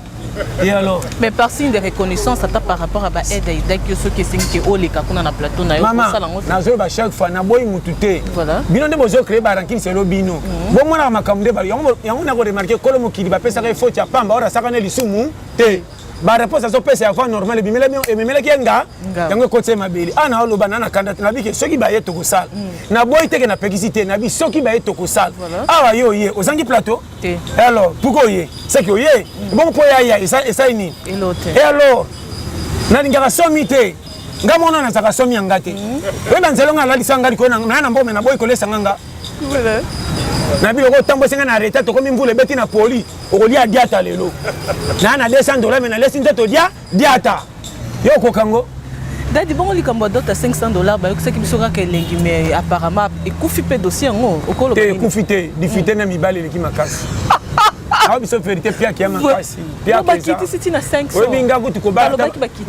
S1: Et alors Mais par signe de
S2: reconnaissance, ata par rapport à ba aide et daki yo soki esengi ke oleka kuna na plateau na yo Maman, osala ngo. nazo ba
S1: chaque fois na boyi mutu te. Voilà. Bino nde bozo créer ba rankings elo bino. Bo mona makambo nde ba yango yango na ko remarquer kolo mokili ba pesaka ye faute ya pamba ora saka ne lisumu te. Ba réponse azo pesa ya voix normale bimela bino ememela ki nga Nga. yango ekoti ye mabele. Ah na oloba na na kanda te na bike soki ba ye tokosala. Na boyi te ke na pekisi te na bi soki ba ye tokosala. Voilà. Awa yo ye ozangi plateau te et alors pourquoi oye seki oye mm. bongo mpo yaya esali nini et alors nalingaka somi te nga mona nazalaka somi ya nga te mpe mm. na nzela nga alalisa nga likolo naya na mbome naboyi kolesa nga nga na biloko otambwisi nga na reta tokomi mvula ebeti na poli okolia diata lelo naya na 200 dola me nalesi nzoto dia Diata, yo okoka ngo? Dadi bongo
S2: likambo ya dota 500 dollars bayokisaki biso kaka elengi mais apparemment ekufi mpe dossier yango okolo te ekufi te
S1: difite na mibali eleki makasi awa biso verité piaki ya makasi bakitisi
S2: ti na 500 oyebi nga kutu kobala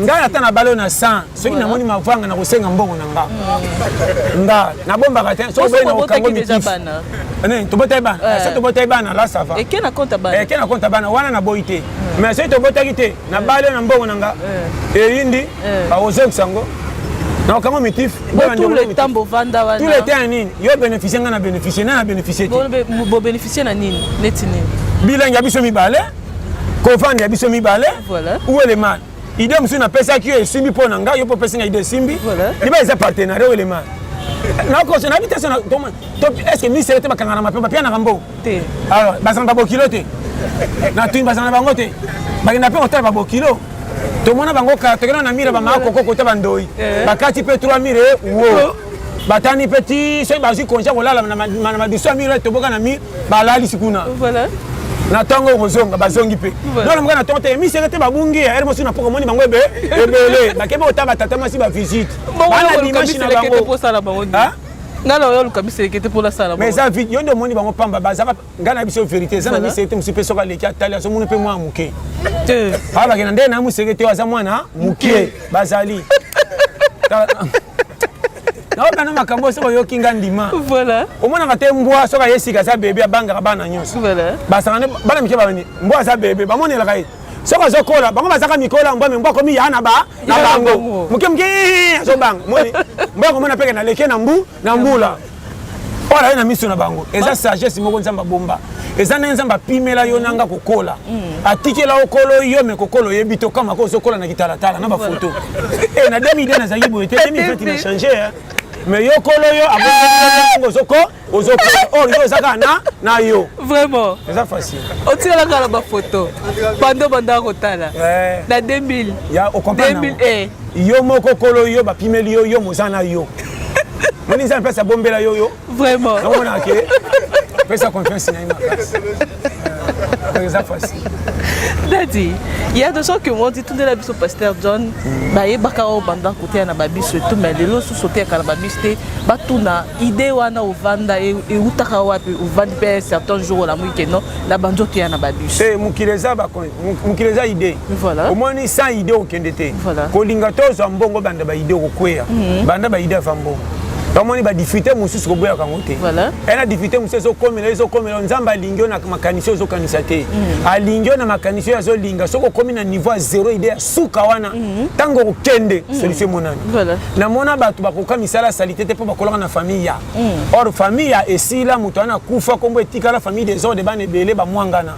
S1: ngai ata na balo na 100 soki namoni mavanga na kosenga mbongo na nga mm. nga nabombaka te soki oboyi na kokango mikifi tobotaki bana eh. so tobotaki bana la sava eke
S2: na konta bana
S1: wana naboyi te mais soki tobotaki te na bale na mbongo na nga eyindi bakozongisa yango nakokango mitif
S2: tulete ya nini
S1: yo bénéficie ngai na bénéficie nani na bénéficie tebobénéficie
S2: na nini neti nini bilangi
S1: ya biso mibale kovanda ya biso mibale ou elemani idée mosusu napesaki yo esimbi mpo na ngai yo mpo opesi ngai idée esimbi liba eza partenariat
S2: oyo
S1: elema nakoso nayebi te estce misele te bakangana mape bapianaka mbongo alors bazala na babokilo te natuni bazala na bango te bakenda mpe kotala babokilo tomona bango tokenda na mire bamaka koko kota bandoi eh. bakati mpe 3 mire wo batani mpe ti soki bazwi konja kolala na madusu ya mire toboka na mire balalisi kuna
S2: na ntongo
S1: okozonga bazongi mpe nona moka na ntongo te emiseke te babungi ya ere mosusu na mpoko omoni bango ebe ebele bakebe kotala batata mwasi bavisite bana dimashi
S2: na bango nga
S1: na oyo oluka
S2: biseleke te mpola sala mais eza vide yo nde omoni
S1: bango pamba bazaka nga na biso verité eza na biseleke te mosusu mpe soki aleki atali azomoni mpe mwana moke abakena nde na moseleke te aza mwana moke bazali nayoka na makambo oyo soki oyoki nga ndima omonaka
S2: te mbwa
S1: soki aye sika aza bebe abangaka bana nyonso basangane
S2: bana mike
S1: bani mbwa aza bebe bamonelaka ye soki azokola bango bazaka mikola mbwa me mbwa akomi ya na bango moke moke azobanga mbwa akomona mpeke na leke na mbu na mbula oyo naye na miso na bango eza ah. sagesse moko nzambe abomba eza nde nzambe apimela yo na nga kokola mm. atikela okolo yo me kokola oyebi tokama ko ozokola na kitalatala na bafoto e eh, na 2002 nazalaki boye te 2020 na change eh. mais yo kolo yo abongo ozoko ozokola or yo eza kaka na na yo vraiment eza
S2: facile
S1: otikalaka na
S2: bafoto bando bandaka kotala eh. na 2000 ya okomprendre
S1: yo
S2: moko kolo
S1: yo bapimeli yo yo moza na yo moni nzambe mpasi abombela yo yo vraiment namonaka
S2: ke
S1: pesa confiance na ye makasi eza facile dadi
S2: ya de soki yango titundela biso pasteur john mm. bayebaka oyo banda koteya na babiso etu mai lelo susu oteyaka na babiso te batuna ide wana ovanda e, eutaka wapi ovandi mpe certain jour olamuki keno na banzoteya na babiso eh, mokili eza
S1: mokili eza idee voilà. omoni sans idee okende te voilà. kolinga tozwa
S2: mbongo
S1: banda baidee okokweya mm -hmm. banda baidee ava mbongo tomoni badifite mosusu koboyaka yango te voilà. ena difite
S2: mosusu
S1: ezokomela ezokomela nzambe alingi yo na makanisi oyo ozokanisa te mm. alingi yo na makanisi oyo azolinga soki okomi na niveau ya zero ide ya suka wana ntango mm. okokende mm. solution emonani voilà. namona
S2: bato
S1: bakoka misala ya salite te mpo bakolaka na famille ya mm. or famille ya esila moto wana akufa nkombo etikala famille desordre bana ebele bamwangana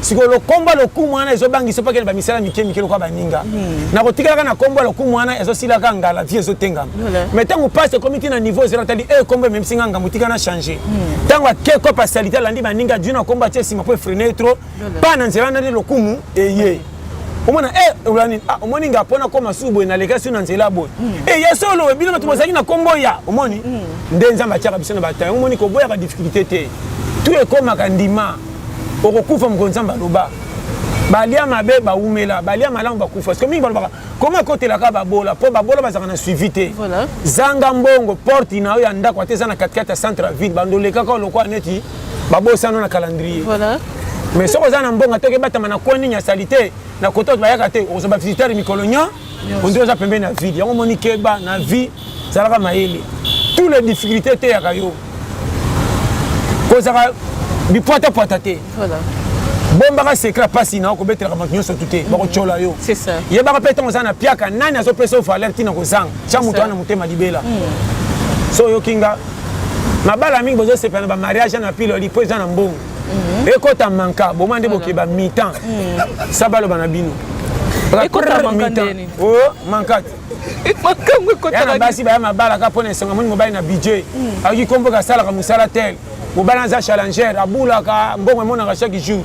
S1: sikoyo lokombo
S2: ya lokumu
S1: wana ezobangisa opakele bamisala mike mike lokola baninga hmm. na kotikalaka na kombo ya lokumu wana ezosilaka ngala vie ezotengama mai ntango pasi ekomi ti na niveau ezela tali e kombo ememisi nga ngambo tika na change hmm. ntango akeko pasalite alandi baninga jui na kombo atie nsima mpo efrene tro pa na nzela nani lokumu eye omona e eh, ola nini ah, omoni nga mpo nakoma susu boye nalekaki su na nzela boye hmm. e eh, ya solo bino bato bozalaki na kombo ya omoni nde nzambe atiaka biso na batango omoni koboyaka difficulté te tu ekomaka ndima okokufa mokolo nzambe aloba balia mabe bawumela balia malamu bakufa siko mingi balobaka koma ekotelaka babola mpo babola bazalaka na suivi te zanga
S2: mbongo
S1: porte na yo ya ndako ata eza na katikati ya centre ya ville bando olekaka lokola neti babosano na calendrier mais
S2: soki oza na
S1: mbongo atoki ebatama na koni nini ya salite na kota oyo bayaka te okozwa bavisitare mikolo nyo ondi oza pembeni na vide yango omoni keba na vie zalaka mayele tout les difficultés eteyaka yo kozaka bipwatapwata te
S2: bombaka
S1: sekre mpasi na okobetelaka bato nyonso tu te bakotyola yo yebaka mpe ntango
S2: oza na
S1: piaka nani azopesa yo valeur ntina kozanga tya moto wana motema libela hmm. so oyoki nga mabala mingi bozosepela na bamariage na piloli mpo eza na mbongo mm-hmm. ekota manka boma nde bokeba mitan mm. sa baloba na bino oh,
S2: mankati ya na basi baya mabala
S1: ka mpo na esanga moni mobali na budget mm. akoki kombo kasalaka mosala tel mobali aza challenger abulaka mbongo emonaka chaque jour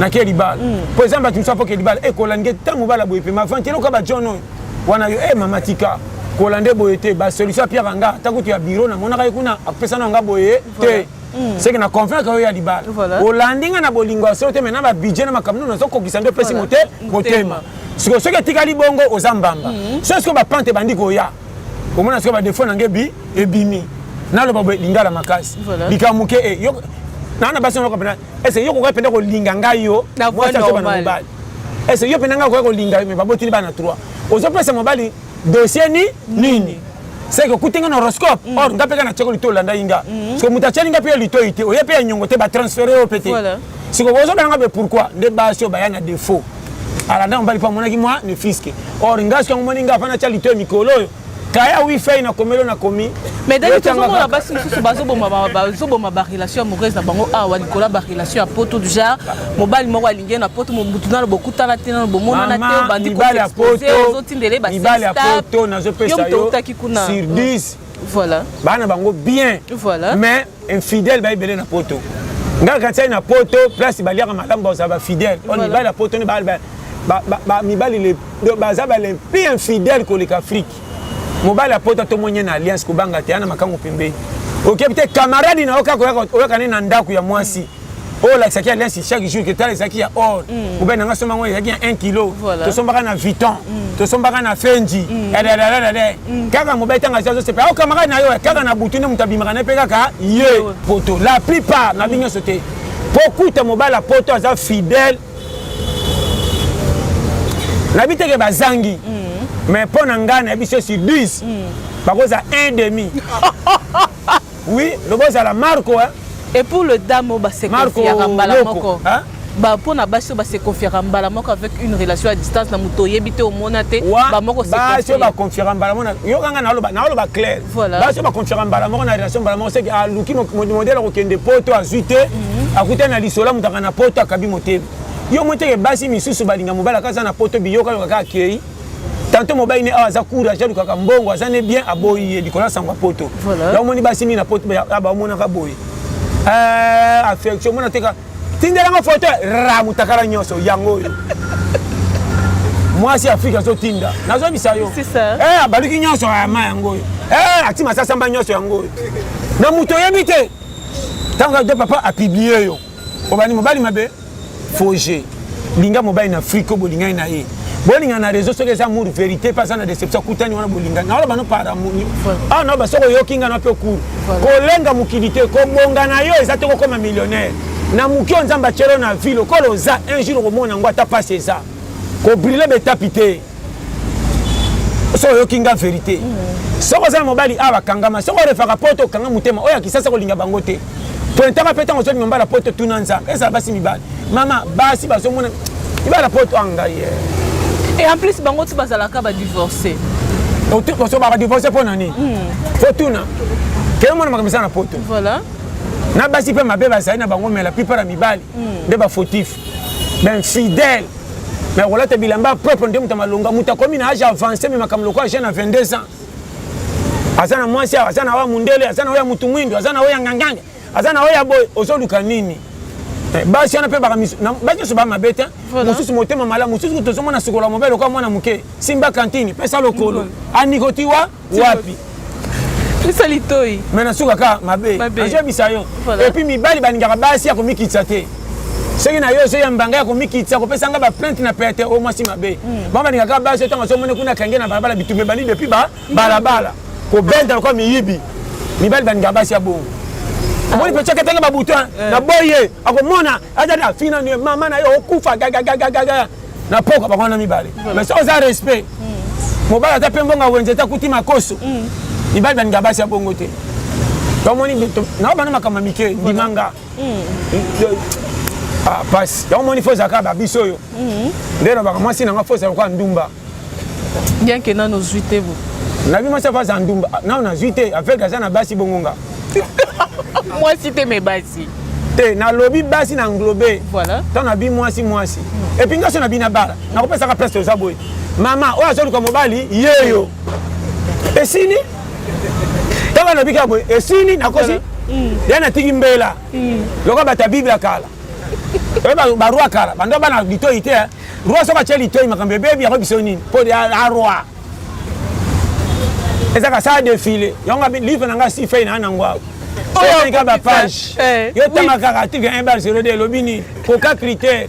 S1: nake libala mm. mpo eza bato mosusu apoke libala ekolange eh, ntango mobala boye mpe mavante eloka bajohn oyo wana yo e eh, mama tika kolande boye te basolution apiaka nga ata kutu ya biro namonaka ye kuna apesa na nga boye te Mm. seke na convaincre yo ya libala voilà. olandi nga na bolingo ya solo te mai na babidje na makambo nini nazokokisa nde opesi mote motema sikoyo soki etikali bongo oza mbamba mm. so sikoyo bapante ebandi koya omona sikoyo badefo na nge ebimi naloba boye lingala makasi voilà. likambo moke e eh, naa na basi noko mpena ese yo kokoki mpenza kolinga ngai yo mwasi azobana mobali ese yo mpenza ngai okoki kolinga yo mai babotili bana trois ozopesa mobali dossier ni nini seke okuti nga na horoscope mm. or nga mpe nga na tiako lito olandaki nga mm. soki moto atiani nga mpe ya litoi te oye mpe ya nyongo te batransfere yo mpe te siko ozobela nga mpe pourkui nde basi oyo baya na defaut alanda mobali mpo amonaki mwa ne fiske or nga soki yango moni nga afana atya litoi mikolo oyo kaya wifi na komelo na komi mais dani tozomona
S2: basi mosusu bazoboma barelation amoureuse na bango awa likolo ya barelation ya poto genre mobali moko alingi ye na poto mobutu nano bokutana te nano bomonana te obandi koexpose Dembele ba mibali ya poto
S1: nazopesa yo sur 10 voilà bana
S2: bango bien
S1: voilà mais
S2: infidèle
S1: ba ebele na poto nga kantiai na poto place baliaka malamu bazala ba fidèle oyo mibali ya poto nde mibali baza balempi infidèle koleka afrique mobali ya poto tomonye na alliance kobanga te ana makango pembeni okebi te camarade na yo kaka oyaka nde na ndako ya mwasi oyo olakisaki ya lesi chaque jour ke tala ezalaki ya or poubele na nga somba yango ezalaki ya 1 kilo tosombaka na viton tosombaka na fenji dadadadadade kaka mobali ntango azia azosepela ao kamarade na yo kaka na butu nde moto abimaka na ye mpe kaka ye poto la plupart na bi nyonso te mpo okuta mobali ya poto aza fidèle nayebi teke bazangi mais mpo na ngai nayebi se sur 10 bakozala 1 demi Ah oui, lobo ezala Marco hein. Et pour le
S2: dame oyo base confiaka mbala moko mpo na basi oyo base confiaka mbala moko avec une relation à distance na moto oyebi te omona te bamoko basi oyo baconfiaka
S1: mbala moko yokanga naoloba claire basi oyo baconfiaka mbala moko na relation mbala moko seke aluki modele akokende poto azwi te mhm. akuta na lisola moto aka na poto akabi motema yo moteke basi misusu balinga mobali akaza na poto biyoka yoka kaka akei tanto mobali ne awa aza courage alukaka mbongo aza ne bien aboyi ye likolo ya sango ya poto yaomoni basi mingi na poto bamonaka boye eh, affection mona teka tindelanga foto ra mutakala nyonso yango oyo mwasi ya afrika azotinda nazobisa yo eh, abaluki
S2: nyonso ayama
S1: yango oyo eh, ati masasamba nyonso yango oyo na moto oyebi te ntango ado papa apiblie yo obani mobali mabe faux jeu linga mobali na afrique oyo bolingani na ye bolingana na réseau soki eza amour vérité mpe aza na déception akutani wana bolingani naoloba no par amour awa naoba soki oyoki nga na mpe okuru kolenga mokili te kobonga na yo eza te kokoma millionnaire na moki oyo nzambe atyelo na vi lokola oza un jour okomona yango ata mpasi eza kobrile betapi te soki oyoki nga verité mm. soki oza na mobali awa bakangama soki orefaka poto okanga motema oyo ya kisasa kolinga bango te pointaka mpe ntango ozongi mobala poto tuna nzambe ezala basi mibali mama basi bazomona mibala poto a ah, ngai eh. et en plus
S2: bango ti bazalaka badivorce
S1: osobaka divorce mpo na nini fo hmm. tuna keye mona makambo eza na poto
S2: na basi
S1: mpe mabe bazali na bango mela plupart ya mibali hmm. nde bafautif bainfidèle me akolata bilamba ya propre nde moto ya malonga moto akomi na age avance me makambo lokola jeune na 22 ans aza na mwasi aza na oya mundele aza na oya motu mwindo aza na oya nganganga aza na oya boye ozoluka nini eh, basi wana mpe basi nyonso bamabe te mosusu motema malamu mosusu tozomona sukola mobele lokola mwana moke simba kantini pesa lokolo anikotiwa wapi pesa
S2: litoi me nasuka kaka mabe
S1: nazoyebisa yo epuis mibali balingaka basi ya komikitisa te soki na yo ozoya mbanga ya komikitisa kopesa nga baplainte na pete oyo mwasi mabe hmm. bango balingaka basi ntango azomoni kuna kange na balabala bitumbe bani depuis ba balabala kobenda lokola miyibi mibali balingaka basi ya bongo omoni pecaka etanga babutin na boye akomona aza na fini nanu ye mama na yo okufa gagagagagaga na pokwa bango wana mibale mais soki oza respect mm. mobali aza mpe mbongo wenze te akuti makoso mm. mibali balinga basi ya bongo te tomoni nao bana makambo mike ndimanga pasi yango moni fo ezalaka babiso oyo nde nabaka mwasi nanga fo ezala lokola ndumba bien
S2: que nano zui te bo na bima sa vaza
S1: ndumba nano na zui te avec aza na basi bongo nga
S2: mwasi te me basi te nalobi
S1: basi na englobe voilà. ntango nabi
S2: mwasi
S1: mwasi mm. epuis nga so nabi na bala nakopesaka place toza boye mama oyo azoluka mobali yeyo esili ntango nalobi kaka boye esili nakosi voilà. Mm. ya natiki mbela mm. lokola bato ya bible ya kala oyo barwa kala bando bana litoyi te Roi soki atye litoi makambo ebebi yango biso nini mpo a roi eza kasala defile yango livre na ngai sifei na nango awa oyaka bapage eh, yo tanga kaka article 1 bal 02 elobi nini koka critère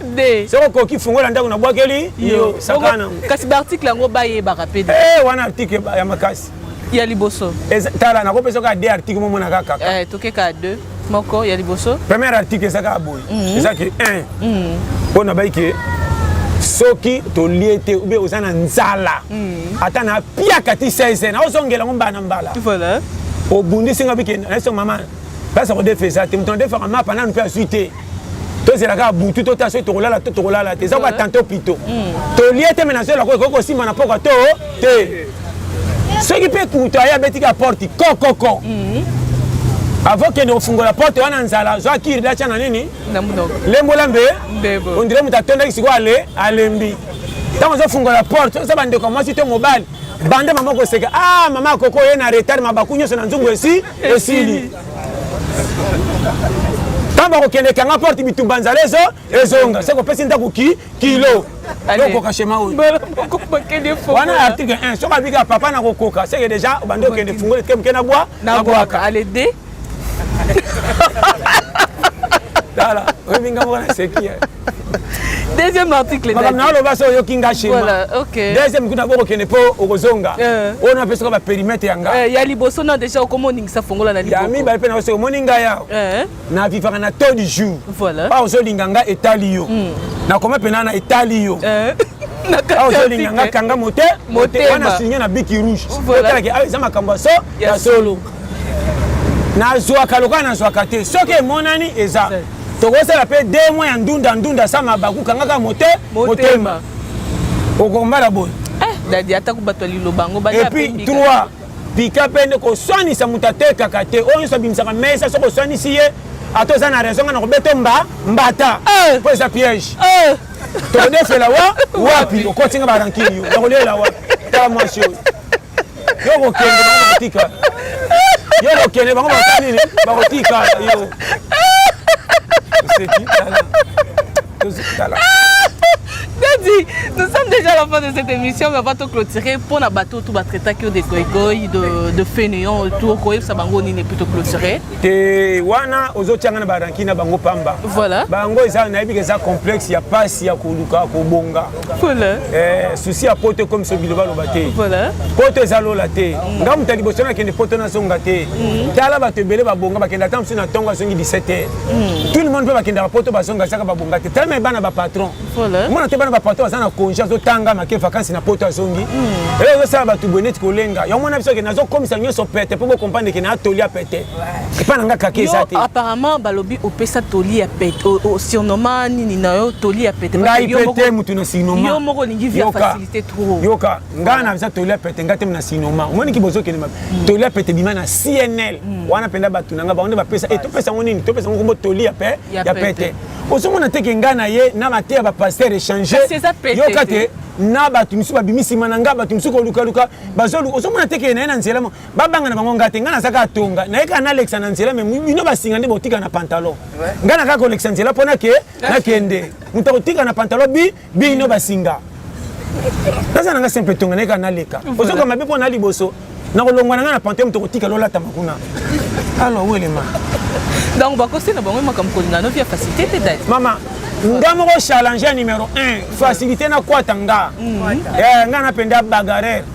S1: soki okoki fungola ndako nabwakeli yo saka nango kasi baarticle yango
S2: bayebaka mpe eh, wana article
S1: ya makasi ya liboso
S2: tala nakopesa
S1: kaka de article momona kaka eh, tokeka de
S2: moko ya liboso premier article eza kaka
S1: boye mhm. eza ke 1 mhm. mpo na bai ke soki tolie te obe oza na nzala mhm. ata na piaka ti 16 na ozongela yango mbala na mbala
S2: obundisi
S1: nga bike nayeso mama place ya kodefa eza te moto nadefaka mapa nanu mpe azwi te tozela kaka butu to ta soki tokolala to tokolala te eza koka tanto pito tolie te me nazoyela ko ekoki kosimba na pokwa to te soki mpe kutu aye abeti ka porte kokoko avant kende kofungola porte wana nzala zwa kiri datya na nini lembola mbe ondire moto atondaki sikoyo ale alembi ntango ozofungola porte oza bandeko ya mwasi to mobali banda mama koseka a ah, mama akoko oye na retard mabaku nyonso na nzungu esi esili ntango bakokende kanga porte bitumba nzala ezo ezonga se kopesi ndako ki kilo yokoka shema oyo wana article 1 soki abika papa na kokoka seke deja obandi okende fungoli tike moke na bwa na bwaka ale de
S2: tala oyebi ngambo wana seki deuxième article makambo na oloba so oyoki nga
S1: shema deuxième kuta bokokende mpo okozonga eh. oyo napesaka baperimetre ya nga eh, ya liboso na
S2: déjà okoma oningisa fongola na ya mibale mpe naoso
S1: omoni ngai awa eh. na vivaka na taux du jour awa ozolinga
S2: nga
S1: etali yo hmm. nakoma mpena na etali yo awa ozolinga nga kanga mote wana signe na biki rouge otalaki awa eza makambo ya so ya solo nazwaka lokola nazwaka te soki emonani eza tokosala mpe de mois ya ndunda ndunda sa mabaku kangaka mote motema okombala boye eh, dadi atako
S2: bato ya liloba yango epuis trois
S1: pika mpe nde koswanisa moto atekaka te oyo nyonso abimisaka mesa soki oswanisi ye ata oza na raison nga na kobeta mba mbata eh. mpo eza piège eh. tokondefela wa wapi okotinga barankini yo nakolela wapi tala mwasi oyo yo kokende bango bakotika yo kokende bango bakosala nini bakotika yo oseki tala tozotala
S2: Daddy, nous sommes déjà à la fin de cette émission, mais on va te clôturer pour la bateau tout va traiter que des goigoi, de, de fainéants, tout quoi, ça bango ni n'est plutôt clôturé. Te wana
S1: ozo tianga na baranki na bango pamba. Voilà. Bango eza
S2: na yebi que
S1: ça complexe ya passe ya koluka kobonga. Voilà. Eh,
S2: souci ya
S1: poto ekomi so biloba loba te voilà. poto eza
S2: lola
S1: te mm. nga moto ya liboso nakende poto nazonga te mm. tala bato ebele babonga bakenda ata mosusu na ntongo azongi 17 heure mm. tout le monde mpe bakendaka poto bazonga ezaka babonga te tala me bana bapatron voilà. mona te bana
S2: bapatron aza na
S1: congé azotanga make vakansi na poto azongi mm. elo ozosala bato boye neti kolenga yango mwana biso ke nazokomisa nyonso pete mpo bokomprendre ke na atoli ya pete epa na nga kaka eza te apparemment balobi
S2: opesa toli ya pete osurnoma nini na yo toli ya pete ngai pete motu
S1: na sinoma yo moko olingi via
S2: facilité trop yoka ngai naza
S1: toli ya pete ngai te na sinoma omoni ki bozokende mabe hmm. toli ya pete bima na cnl hmm. wana mpenza bato na ngai bango nde bapesa e topesa yango nini topesa yango kombo toli ya pe ya pete ozomona te ke ngai na ye na mateya bapaster echange yoka te na bato mosusu babimi nsima na ngai bato mosusu kolukaluka bazoluka ozomona te ke na ye na nzela babanga na bango nga te ngai naza kaka tonga naye kaka nalekisa na nzela me bino basinga nde botika na pantalon ngai na kaka kolekisa nzela mpo nake nakende moto akotika na pantalon bi bino basinga naza na ngai simple tonga naye kaka naleka ozoka mabe mpo na liboso nakolongwa na ngai na pantalon moto kotika lolatama kuna alo welema donc bakosi
S2: na bango makambo kolinga no via facilité te dati mama nga
S1: moko challenge ya numero 1 facilité nakwata nga mm. eh, nga napenda bagarere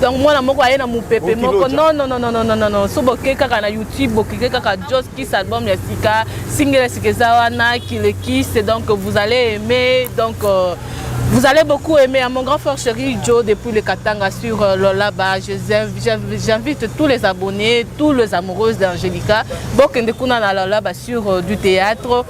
S2: donc mwana moko aye na mopepe moko non non non non non non so boke kaka na youtube bokike kaka jos kiss album ya sika singele sika eza wana kile kiss donc vous allez aimer donc euh, Vous allez beaucoup aimer à mon grand frère chéri Joe depuis le Katanga sur euh, Lolaba. J'invite tous les abonnés, tous les amoureuses d'Angelica. Bokende Kuna na Lolaba sur euh, du théâtre.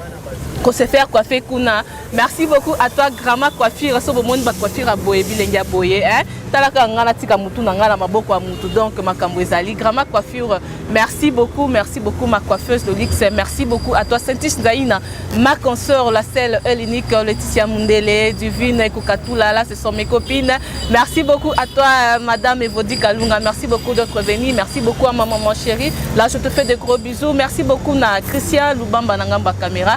S2: Qu'on se faire coiffer Kuna. Merci beaucoup à toi Grandma Coiffure. So bomoni ba coiffure ya boye bilenge ya boye hein. Talaka nga natika mutu na nga na maboko ya mutu donc makambo ezali Grandma Coiffure. Merci beaucoup, merci beaucoup ma coiffeuse de luxe. Merci beaucoup à toi Saintish Zaina, ma consoeur la seule et l'unique Laetitia Mundele, Divine et Kokatula là ce sont mes copines. Merci beaucoup à toi euh, madame Evodi Kalunga. Merci beaucoup d'être venue. Merci beaucoup à ma maman chérie. Là je te fais de gros bisous. Merci beaucoup na Christian Lubamba Nangamba Camera.